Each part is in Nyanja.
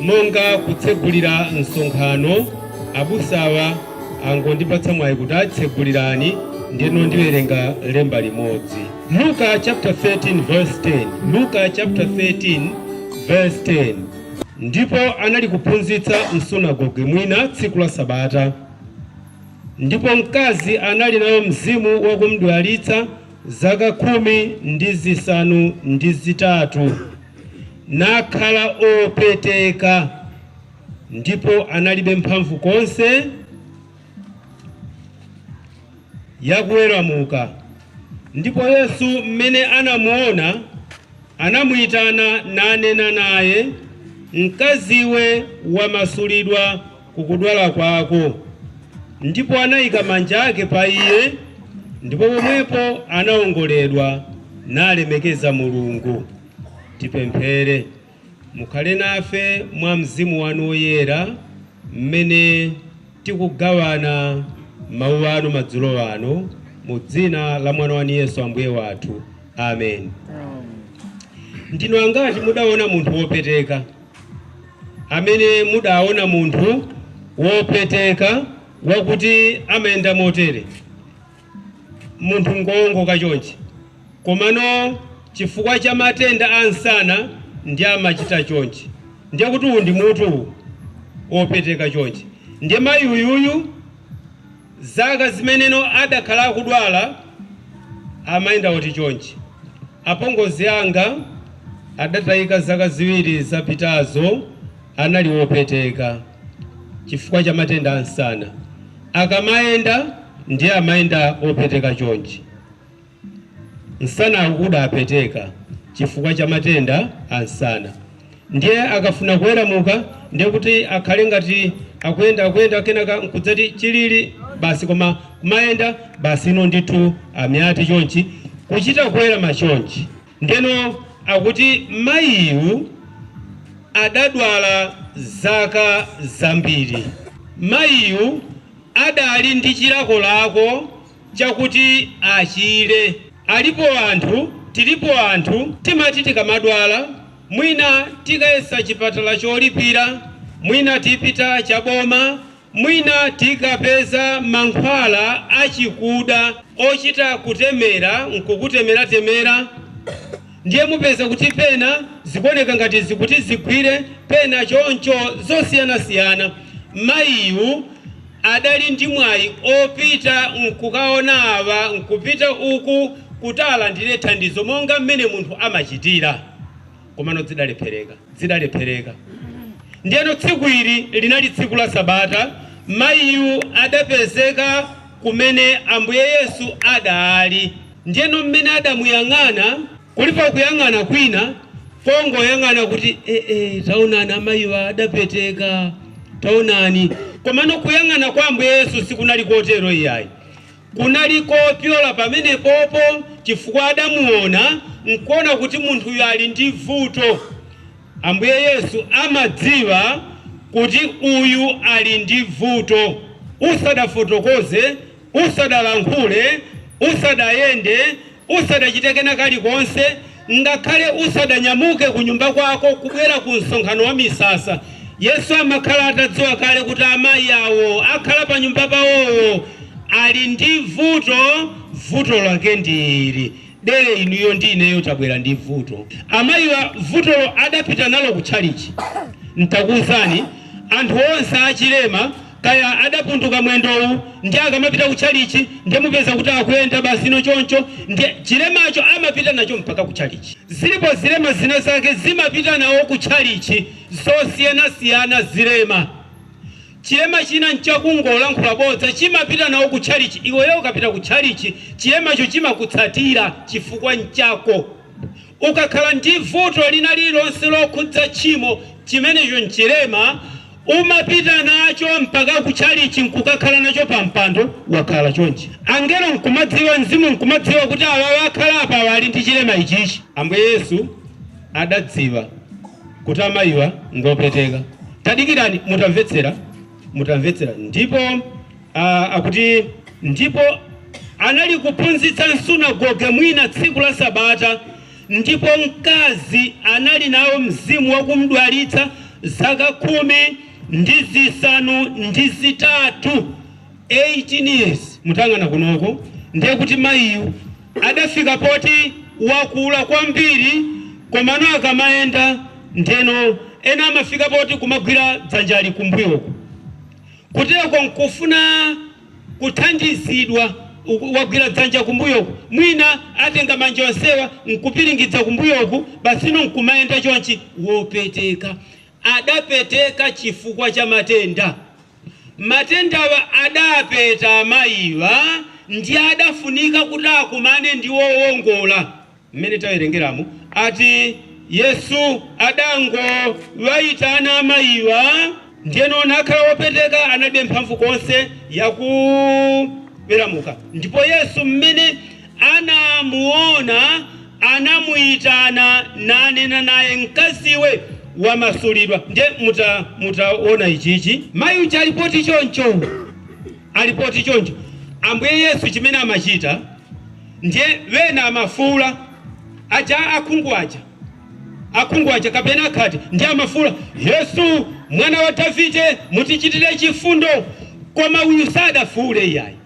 Monga kutsegulira msonkhano, abusawa angondipatsa mwayi kuti atsegulireni ndeno ndiwerenga lemba limodzi. Luka chapter 13 verse 10 Luka chapter 13 verse 10 Ndipo anali kuphunzitsa m'sunagoge mwina tsiku la Sabata, ndipo mkazi anali nayo mzimu wakumdwalitsa zaka khumi ndi zisanu ndi zitatu. nakhala opeteka, ndipo analibe mphamvu konse yakuweramuka. Ndipo Yesu, mmene anamuona, anamuitana, nanena naye, Mkaziwe, wamasulidwa kukudwala kwako. Ndipo anaika manja ake pa iye, ndipo pomwepo anaongoledwa, nalemekeza Mulungu. Tipemphere. Mukhale nafe mwa Mzimu wanu Woyera mmene tikugawana mawu anu madzulo ano, mu dzina la mwana wanu Yesu Ambuye wathu. Amen. Ndinu angati mudaona munthu wopeteka? amene mudaona munthu wopeteka wakuti amayenda motere, munthu ngowongoka chonchi, komano chifukwa cha matenda a msana ndiye amachita chonchi, ndiye kuti uwu ndi mutu uwu, wopeteka chonchi, ndiye mayi uyuyu. Zaka zimeneno adakhala akudwala amayenda oti chonchi. Apongozi anga adatayika zaka ziwiri zapitazo anali opeteka chifukwa cha matenda a msana. Akamayenda ndiye amayenda opeteka chonchi. Nsanawu udapeteka chifukwa cha matenda a nsana ndiye akafuna kuweramuka ndiye kuti akhale ngati akuyenda akuyenda kenaka nkudzati chilili basi koma kumayenda basi ino ndithu amayati chonchi kuchita kuwerama chonchi ndeno akuti mayiyu adadwala zaka zambiri mayiyu adali ndi chilakolako chakuti achire. Alipo anthu, tilipo anthu timati tikamadwala mwina tikayesa chipatala cholipira, mwina tipita cha boma, mwina tikapeza mankhwala achikuda ochita kutemera n'kukutemeratemera. Ndiye mupeza kuti pena zikuoneka ngati zikuti zigwire, pena choncho, zosiyanasiyana. Mayiyu adali ndi mwayi opita n'kukaona awa n'kupita uku kuti alandire thandizo monga mmene munthu amachitira. Komano dzidalephereka, dzidalephereka. Ndiyeno tsiku ili linali tsiku la Sabata, mayiyu adapezeka kumene Ambuye Yesu adaali. Ndiyeno mmene adamuyang'ana. Kulipo kuyang'ana kwina kongoyang'ana kuti, Eee, taonani amayiwa adapeteka, taonani. Komano kuyang'ana kwa Ambuye Yesu sikunali kotero iyayi. Kunali kopyola pamenepopo chifukwa adamuona nkuona kuti munthuyu ali ndi vuto. Ambuye Yesu amadziwa kuti uyu ali ndi vuto. Usadafotokoze Usadalankhule, usadayende, usadachite kena kalikonse, ngakhale usadanyamuke kunyumba kwako kubwera ku Msonkhano wa Misasa, Yesu amakhala atadziwa kale kuti amayi awo akhala panyumba pawowo ali ndi vuto. Vuto lake ndi ili, dere inuyo ndi ineyo tabwera ndi vuto. Amayiwa vutolo adapita nalo kutchalitchi. Ntakuuzani, anthu onse achilema kaya adapunduka mwendowu ndiye akamapita kutchalitchi ndiye mupeza kuti akuyenda basino choncho ndiye chilemacho amapita nacho mpaka kutchalitchi zilipo zilema zina zake zimapita nawo kutchalitchi zosiyanasiyana zilema chilema china nchakungolankhula bodza chimapita nawo kutchalitchi iweyo ukapita kutchalitchi chilemacho chimakutsatira chifukwa nchako Ukakhala ndi vuto lina lililonse lokhudza tchimo, chimenecho n'chilema. Umapita nacho mpaka kutchalitchi n'kukakhala nacho pampando, wakhala chonchi. Angelo n'kumadziwa, mzimu n'kumadziwa kuti awawa akhala apawa ali ndi chilema ichichi. Ambuye Yesu adadziwa kuti amayiwa ngopeteka. Tadikirani, mutamvetsera, ndipo. Akuti ndipo anali kuphunzitsa m'sunagoge mwina tsiku la Sabata, ndipo mkazi anali nawo mzimu wakumdwalitsa zaka khumi ndi zisanu ndi zitatu 18 years. Mutayang'ana kunoko ndiye kuti mayiyu adafika poti wakula kwambiri, komano akamayenda ndeno ena amafika poti kumagwira dzanjali kumbuyoku. Kuteko nkufuna kuthandizidwa. Wagwira dzanja kumbuyoku, mwina atenga manja onsewa nkupiringidza kumbuyoku, basino nkumayenda chonchi. Wopeteka. Adapeteka chifukwa cha matenda. Matendawa adapeta amayiwa ndiye adafunika kuti akumane ndi wowongola. mmene tawerengeramu ati Yesu adangowaitana mayiwa ndiyeno anakhala wopeteka analibe mphamvu konse yakuweramuka ndipo Yesu mmene anamuona anamuyitana nanena naye mkaziwe wamasulidwa ndiye mutaona ichichi mayi uja ali poti choncho Ali poti choncho Ambuye Yesu chimene amachita ndiye wena amafuula aja akhungu aja akhungu aja kapena akhate ndiye amafuula Yesu mwana wa Davide mutichitire chifundo koma uyu sadafuule iyayi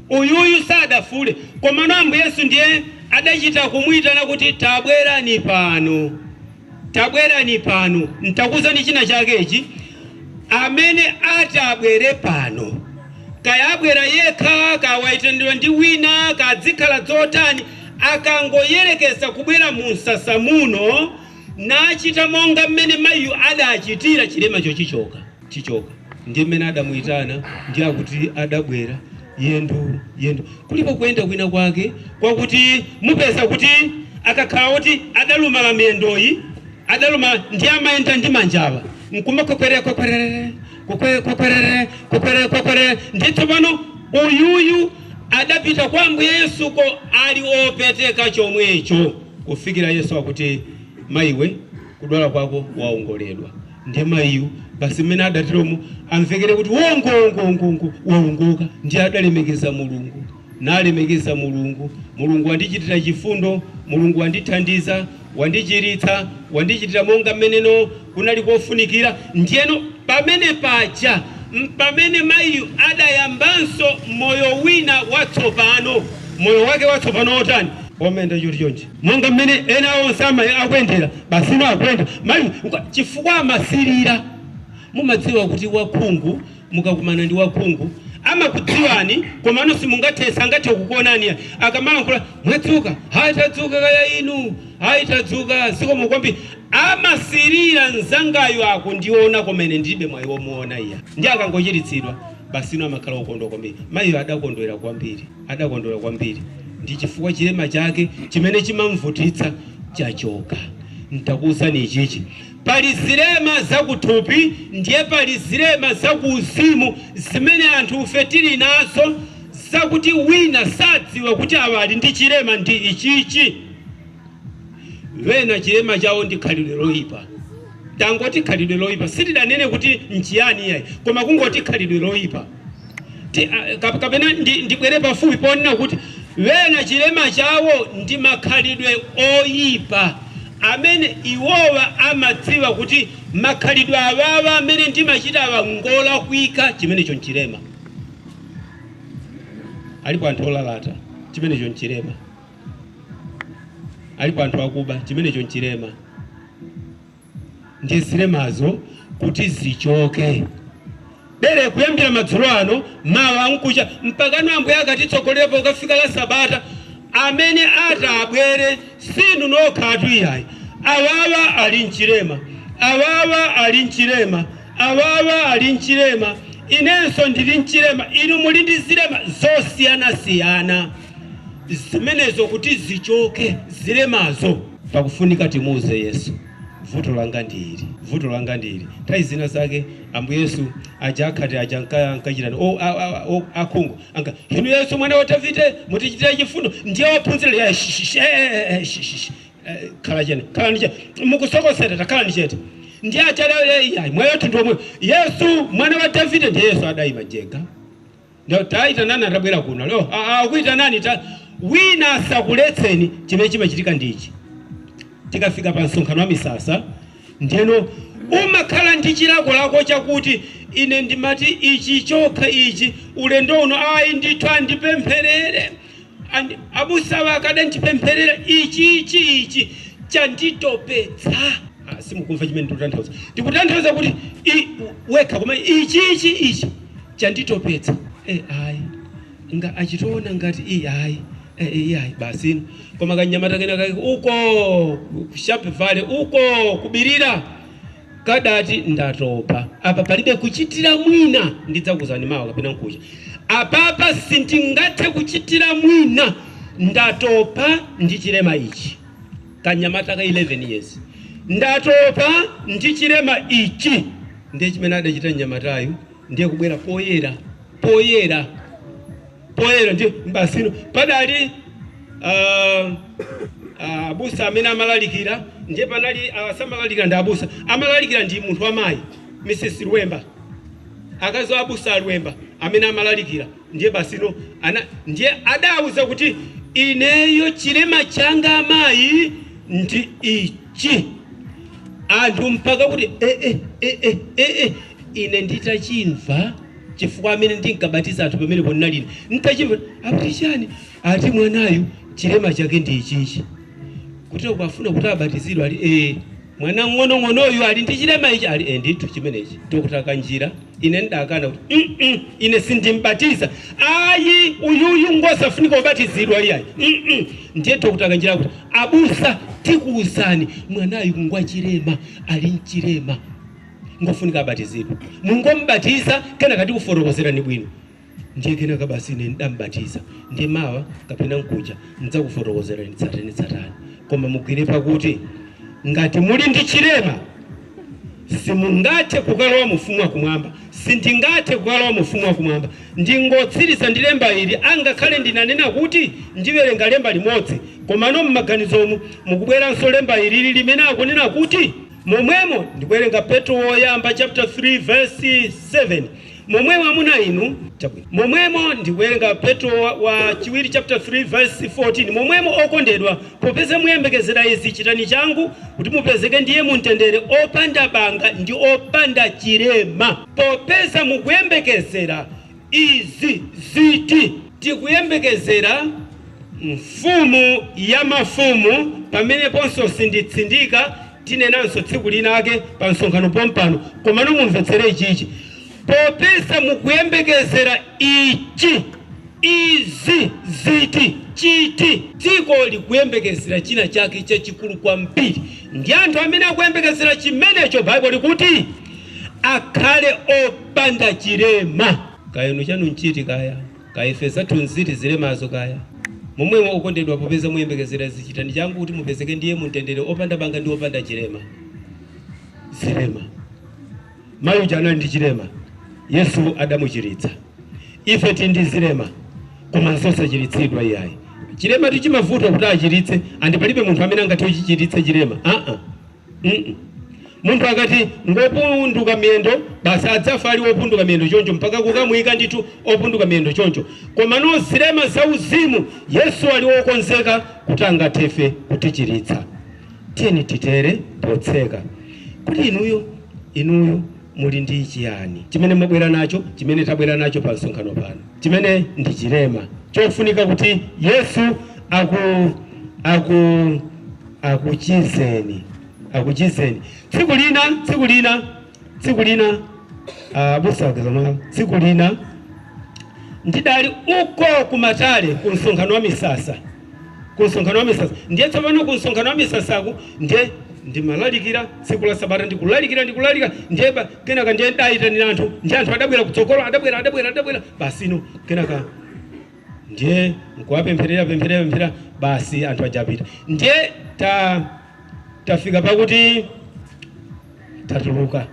uyuyu sadafuule komano Ambuye Yesu ndiye adachita kumuitana kuti tabwerani pano. Tabwerani pano, ntakuuzani china chake ichi. Amene atabwere pano, kaya abwera yekha, kaya waitanidwa ndi wina, kaya zikhala zotani, akangoyerekeza kubwera mu msasa muno, nachita monga mmene maiyu adachitira, chilemacho chichoka. chichoka ndiye mmene adamuitana ndiye akuti adabwera yendo yendo kulipo kuyenda kwina kwake kwakuti mupeza kuti akakhala kuti adalumala miyendoyi adalumala ndiye amayenda ndi manjawa nkumakwekwerere kwekwerere kwekwe- kwekwerere kwekwerere kwekwerere ndiye tsopano uyuyu adapita kwa ambuye yesuko ali opeteka chomwecho kufikira yesu akuti mayiwe kudwala kwako waongoledwa Ndiye mayiyu basi mmene adatiromo amvekere kuti wongo-wongo-wongo-wongo, waongoka. Ndiye adalemekeza Mulungu, nalemekeza Mulungu, Mulungu wandichitira chifundo, Mulungu wandithandiza, wandichiritsa, wandichitira monga mmeneno kunali kofunikira. Ndiyeno pamene paja mpamene mayiyu adayambanso moyo wina watsopano. Moyo wake watsopano wotani? Womenda choti chonchi. monga mmene ena onse akuyendera basino akuyenda mayiyu chifukwa amasilira mumadziwa kuti wakhungu mukakumana ndi wakhungu amakudziwani komano simungathe sangathe kukuonani ai akamalankhula mwadzuka ayi tadzuka kaya inu ayi tadzuka zikomo kwambiri amasilira nzangayo akundiona koma ine ndilibe mwai womuona iyayi ndiye akangochiritsidwa basino amakhala okondwa kwambiri maiyo adakondwera kwambiri. Adakondwera kwambiri ndi chifukwa chilema chake chimene chimamvutitsa chachoka. Ntakuuzani ichichi, pali zilema zakuthupi ndiye pali zilema zakuuzimu zimene anthufe tili nazo zakuti wina sadziwa kuti awa ali ndi chilema ndi ichichi. Wena chilema chawo ndi khalidwe loipa. Tangoti khalidwe loipa, sitinanene kuti nchiyani iyayi koma kungoti khalidwe loipa. kapena ndibwere pafupi ponena kuti wena chilema chawo ndi makhalidwe oyipa amene iwowa amadziwa kuti makhalidwe awawa amene ndimachita awa ngolakwika chimenecho nchilema alipo anthu olalata chimenecho nchilema alipo anthu akuba chimenecho nchilema ndi zilemazo kuti zichoke. Bere kuyambira madzulo ano, mawa mkucha mpakana Ambuye akatitsogolera pokafika la Sabata. Amene atabwere sinu nokhatu iyayi, awawa ali mchilema, awawa ali mchilema, awawa ali mchilema, inenso ndili mchilema, inu muli ndi zilema zosiyanasiyana. zimenezo kuti zichoke zilemazo. Pakufunika timuuze Yesu, vuto langa ndi ili, vuto langa ndi ili. Nthawi zina zake Ambuye Yesu aja akhate aja anka- ankachita ni- o- a- a- o- akhungu anka inu Yesu mwana wa Davide mutichitire chifundo. Ndiye ophunzira ya shishish eh, eh, eh, shishish Eh, khala chete khalani chete mukusokosera takhalani chete ndiye aja leo yeye mwayo tundu omwe Yesu mwana wa Davide ndiye Yesu adaima jega Nda- taitanani atabwera kuno lero A- a- akuitanani ta wina asakuletseni chimene chimachitika ndi ichi tikafika pa msonkhano wa misasa ndiyeno umakhala ndi chilakolako chakuti ine ndimati ichi chokha ichi ulendo uno ayi ndithu andipempherere Ndi abusawa akadandipempherera ichi ichi ichi chanditopetsa Ah, simukumva chimene ndikutanthauza ndikutanthauza kuti i- wekha koma ichi ichi ichi chanditopetsa Eh, ayi nga achitiona ngati iyi ayi Eh, eh, iyi ayi basino koma kanyamata kena kake uko ku Sharp Valley uko kubirira kadati ndatopa apa palibe kuchitira mwina ndidzakuuzani mawa kapena nkucha apapa sindingathe kuchitira mwina ndatopa ndi chilema ichi kanyamata ka 11 years ndatopa ndi chilema ichi ndiye chimene adachita mnyamatayu ndiye kubwera poyera poyera poyera ndiye basino padali ah, ah, abusa amene amalalikira ndiye panali ah, samalalikira ndi abusa amalalikira ndi munthu wamayi mrs lwemba akazi wa abusa a lwemba amene amalalikira ndiye basino ana ndiye adawuza kuti ineyo chilema changa amayi ndi ichi chi anthu mpaka kuti eh, eh, eh, eh, eh, eh. ine nditachimva chifukwa amene ndinkabatiza anthu pamenepo ndinali ine nditachimva akuti chani ati mwanayu chilema chake ndi ichichi kuti akufuna kuti abatizidwe ali eh mwana wang'onong'onoyu ali ndi chilema ichi ali eh, ndithu chimenechi tokutaka njira Ine ndakana kuti, mm ine sindimbatiza ayi, uyuyu ngosafunika kubatizidwa iyayi mm. Ndiye Dr. Kanjira kuti, abusa tikuuzani, mwanayu ngwachilema, ali nchilema ngofunika abatizidwe. Mungombatiza kenaka tikufotokozerani bwino. ndiye kenaka basi ine ndambatiza ndiye mawa kapena mkuja ndidzakufotokozerani tsatane tsatane koma mugwire pakuti ngati muli ndi chilema simungathe kukalowa mu fumu wakumwamba sindingathe kukalowa mu fumu wakumwamba ndingotsiriza ndi lemba ili angakhale ndinanena kuti ndiwerenga lemba limodzi komano m'maganizomu mukubweranso lemba ilili limene akunena kuti momwemo ndikuwerenga petro woyamba chapter 3 verse 7 Momwemo amuna inu, momwemo ndikuwerenga Petro wa, wa chiwiri chapter 3 verse 14 momwemo okondedwa, popeza muyembekezera izi, chitani changu kuti mupezeke ndi Iye mumtendere, opanda banga ndi opanda chilema. Popeza mukuyembekezera izi, ziti? Tikuyembekezera Mfumu ya mafumu, pameneponso sinditsindika, Tinenanso tsiku linake pa msonkhano pompano, komano mumvetsere ichichi, popeza mukuyembekezera ichi. Izi ziti, chiti? Dziko likuyembekezera china chake chachikulu kwambiri, ndi anthu amene akuyembekezera chimenecho, Baibulo likuti, akhale opanda chilema. Kaya inu chanu nchiti kaya? Kaya ife zathu nziti zilemazo kaya? Momwemo, okondedwa, popeza muyembekezera izi, chitani changu kuti mupezeke ndi Iye mu mtendere, opanda banga ndi opanda chilema. Zilema. Mayi uja anali ndi chilema, Yesu adamuchiritsa. Ife ti ndi zilema, koma nzosachiritsidwa iyayi. Chilema chimavuta kuti achiritse, andi palibe munthu amene angati achichiritse chilema. Aa. mm Munthu akati ngopunduka miyendo basi adzafa ali opunduka miyendo choncho, mpaka kukamuyika ndithu opunduka miyendo choncho. Komano zilema zauzimu Yesu ali wokonzeka kuti angathe ife kutichiritsa. Tiyeni titere potseka kuti inuyo inuyo muli ndi chiyani chimene mwabwera nacho, chimene tabwera nacho pa msonkhano pano. chimene ndi chilema chofunika kuti Yesu aku aku akuchizeni akuchizeni tsiku lina tsiku lina tsiku lina ah, abusa wake zomwe tsiku lina ndidali uko kumatale ku msonkhano wa misasa ku msonkhano wa misasa ndiye tsopano ku msonkhano wa misasaku ndiye ndimalalikira tsiku la sabata ndikulalikira ndikulalikira ndiye ba- kenaka ndiye ndayitanira anthu ndiye anthu adabwera kutsogolo adabwera adabwera adabwera basi no kenaka ndiye nkuwapempherera pempherera pempherera basi anthu aja apita ndiye ta tafika pakuti tatuluka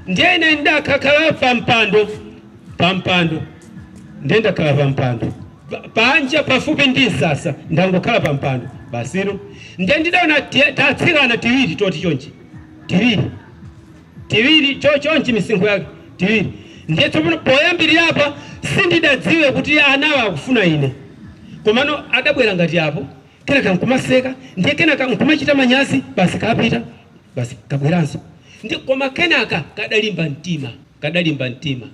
ndiye ine ndidakakhala pampando pampando ndiye ndakhala pampando Pa- panja pafupi ndi msasa ndangokhala pampando basiro ndiye ndidaona ti- tatsikana tiwiri toti chonchi tiwiri tiwiri chochonchi misinkhu yake tiwiri ndiye tsopano poyambirira apa sindidadziwe kuti anawa akufuna ine komano adabwera ngati apo kenaka nkumaseka ndiye kenaka nkumachita manyazi basi kapita basi kabweranso ndi koma kenaka kadalimba mtima kadalimba mtima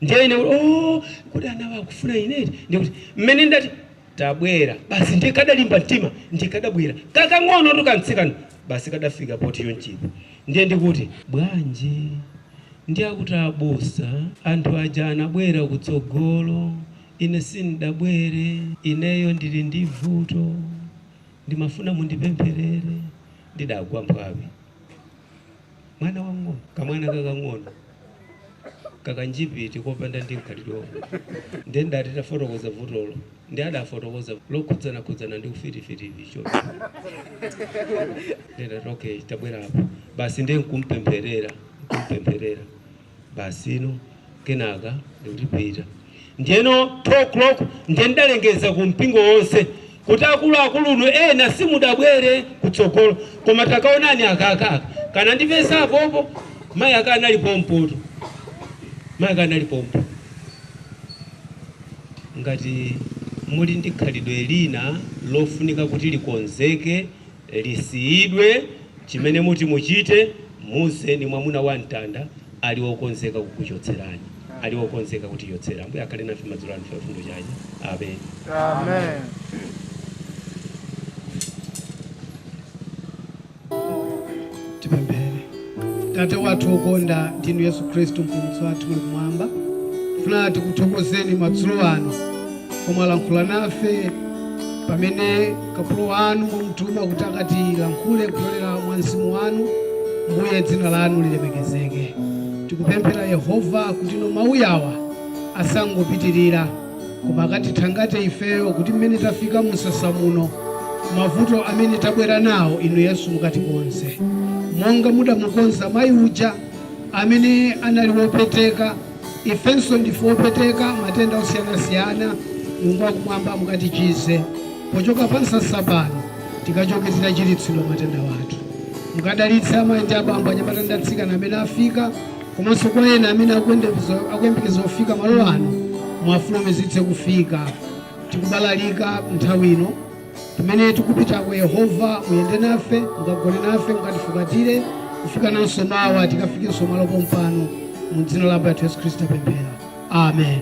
ndiye ine kuti, oh kuti anawa akufuna ineti ndikuti mmene ndati tabwera basi ndiye kadalimba mtima ndiye kadabwera kakang'onotu kamtsikana basi kadafika poti yonchipa ndiye ndikuti bwanji ndiye akuti abusa anthu aja anabwera kutsogolo Ine sindabwere, ineyo ndili ndi vuto, ndimafuna mundipempherere, ndidagwa mphwawi. Mwana wamng'ono, kamwana kakang'ono, kakanjipiti kopanda ndi mkhalidwe. Ndiye ndidati tafotokoza vutolo, ndiye adafotokoza lokhudzanakhudzana ndi ufiti-fiti ivi choncho. Ndiye ndidati, okay, tabwera apo basi, ndiye nkumpempherera, nkumpempherera. basi no kenaka ndikutipita ndiyeno 2 o'clock ndiye ndidalengeza ku mpingo wonse kuti akuluakulunu ena simudabwere kutsogolo koma takaonani aka kaka kanandipeza apopo mayi ake anali pompotu mayi ake anali pompo ngati muli ndi khalidwe lina lofunika kuti likonzeke lisiyidwe, chimene muti muchite, muuzeni Mwamuna wa Mtanda ali wokonzeka kukuchotserani, ali wokonzeka kutichotsera. Ambuye akhale nafe madzulo ano, chifundo chake. Amen. Amen. Tate wathu wokonda, ndinu Yesu Khristu, Mpulumutsi wathu, muli kumwamba. Tifuna tikuthokozeni madzulo ano pomwe mwalankhula nafe pamene kapolo wanu mwamutuma kuti akatilankhule kupyolera mwa mzimu wanu. Mbuye, dzina lanu lilemekezeke. Tikupemphera Yehova kuti no mawu awa asangopitirira koma akatithangate ifeyo kuti mmene tafika mumsasa muno mavuto amene tabwera nawo inu yesu mukatikonze monga mudamukonza mayi uja amene anali wopeteka ifenso ndife wopeteka matenda osiyanasiyana mulungu wakumwamba mukatichize pochoka pa msasa pano tikachoke titachiritsidwa matenda wathu mukadalitse amayi ndi abambo anyamata ndi atsikana amene afika komanso kwa ena amene akuyembekeza kufika malo ano, muwafulumizitse kufika. Tikubalalika nthawi ino pamene tikupitako. Yehova, muyende nafe, mukagone nafe, mukatifukatire kufika nanso mawa tikafikenso malo pompano. Mu dzina la Ambuye athu Yesu Khristu tapemphera, amen.